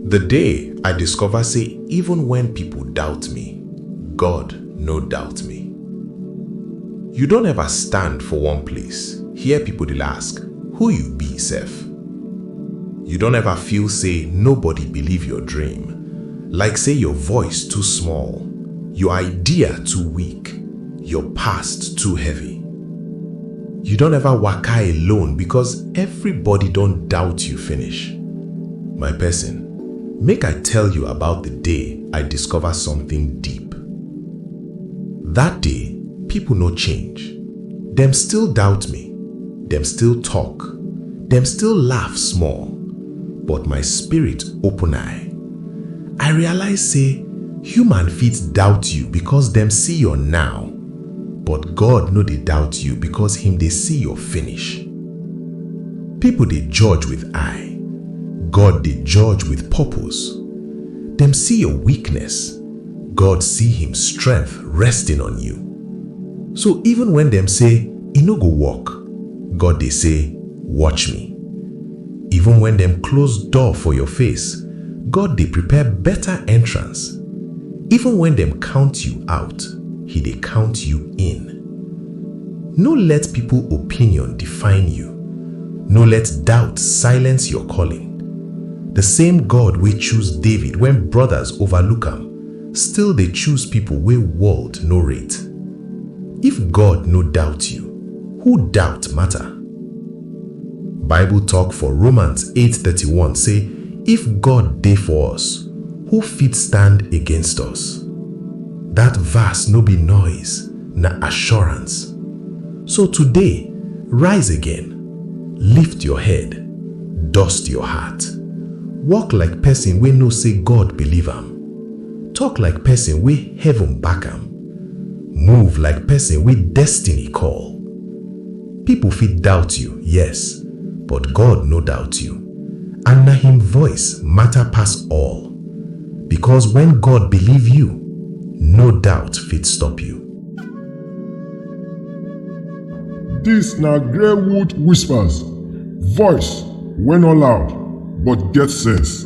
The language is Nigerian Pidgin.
The day I discover say even when people doubt me, God no doubt me. You don ever stand for one place, hear people dey ask, who you be sef? You don ever feel say nobody believe your dream, like say your voice too small, your idea too weak, your past too heavy. You don ever waka alone because everybody don doubt you finish? My person, make I tell you about the day I discover something deep. That day, people no change. Dem still doubt me, dem still talk, dem still laugh small, but my spirit open eye. I realize say human fit doubt you because dem see your now, But God no dey doubt you because him dey see your finish. People dey judge with eye, God dey judge with purpose. Dem see your weakness, God see him strength resting on you. So even when dem say e no go work, God dey say watch me. Even when dem close door for your face, God dey prepare better entrance. Even when dem count you out, He dey count you in. No let people opinion define you, no let doubt silence your calling. The same God wey choose David when brothers overlook am still dey choose people wey world no rate. If God no doubt you, who doubt matter? Bible tok for Romans 8:31 sey, If God dey for us, who fit stand against us? Dat verse no be noise, na assurance. So today, rise again, lift your head, dust your heart. Walk like pesin wey know sey God believe am. Tok like pesin wey heaven back am. Move like person wey destiny call. People fit doubt you, yes, but God no doubt you. And na him voice matter pass all. Because when God believe you, no doubt fit stop you. Dis na Greywood Whispers, voice wey no loud but get sense.